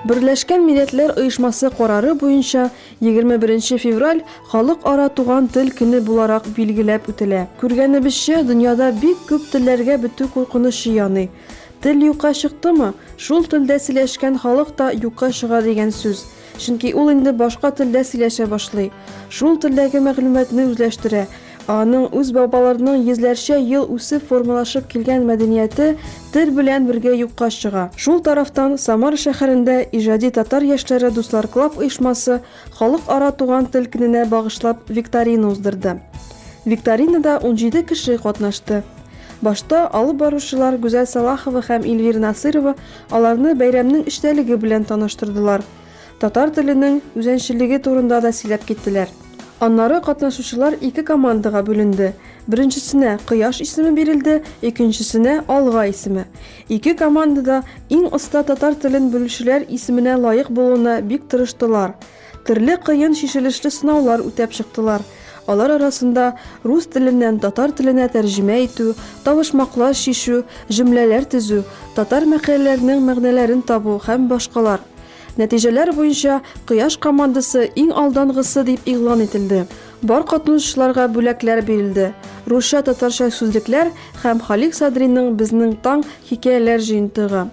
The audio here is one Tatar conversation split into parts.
Берләшкән Милләтләр оешмасы карары буенча 21 февраль халыкара туган тел көне буларак билгеләп үтелә. Күргәнебезчә, дөньяда бик күп телләргә бетү куркынычы яный. Тел юкка чыктымы, шул телдә сөйләшкән халык та юкка чыга дигән сүз. Чөнки ул инде башка телдә сөйләшә башлый. Шул телдәге мәгълүматны үзләштерә, Аның үз бабаларының йөзләрчә ел үсеп формалашып килгән мәдәнияте тел белән бергә юкка чыга. Шул тарафтан, Самара шәһәрендә Иҗади татар яшьләре дусларклаб оешмасы Халыкара туган тел көненә багышлап викторина уздырды. Викторинада унҗиде кеше катнашты. Башта алып баручылар Гүзәл Салахова һәм Ильвира Насыйрова аларны бәйрәмнең эчтәлеге белән таныштырдылар. Татар теленең үзенчелеге турында да сөйләп киттеләр. Аннары катнашучылар ике командага бүленде. Беренчесенә Кояш исеме бирелде, икенчесенә Алга исеме. Ике команда да иң оста татар телен белүчеләр исеменә лаек булуына бик тырыштылар. Төрле кыен чишелешле сынаулар үтәп чыктылар. Алар арасында рус теленнән татар теленә тәрҗемә итү, тавышмаклар чишү, җөмләләр төзү, татар мәкальләренең мәгънәләрен табу һәм башкалар. Нәтиҗәләр буенча Кояш командасы иң алдангысы дип игълан ителде. Бар катнашучыларга бүләкләр бирелде. Русча-татарча сүзлекләр һәм Халик Садриның Безнең таң хикәяләр җыентыгы.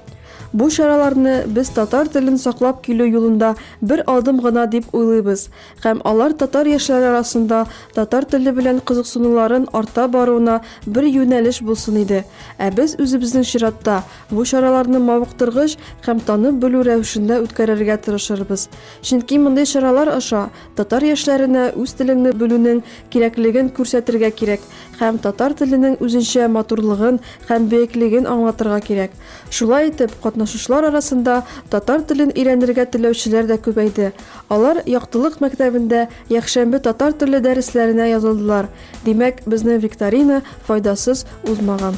Бу чараларны без татар телен саклап килү юлында бер адым гына дип уйлыйбыз һәм алар татар яшьләре арасында татар теле белән кызыксынуларын арта баруына бер юнәлеш булсын иде, ә без үзебезнең чиратта Бу чараларны мавыктыргыч һәм танып белү рәвешендә үткәрергә тырышырбыз. Чөнки мондый чаралар аша татар яшьләренә үз телеңне белүнең кирәклеген күрсәтергә кирәк һәм татар теленең үзенчә матурлыгын һәм бөеклеген аңлатырга кирәк. Шулай итеп, катнашучылар арасында татар телен өйрәнергә теләүчеләр дә күбәйде. Алар Яктылык мәктәбендә Якшәмбе татар теле дәресләренә язылдылар, димәк, безнең викторина файдасыз узмаган.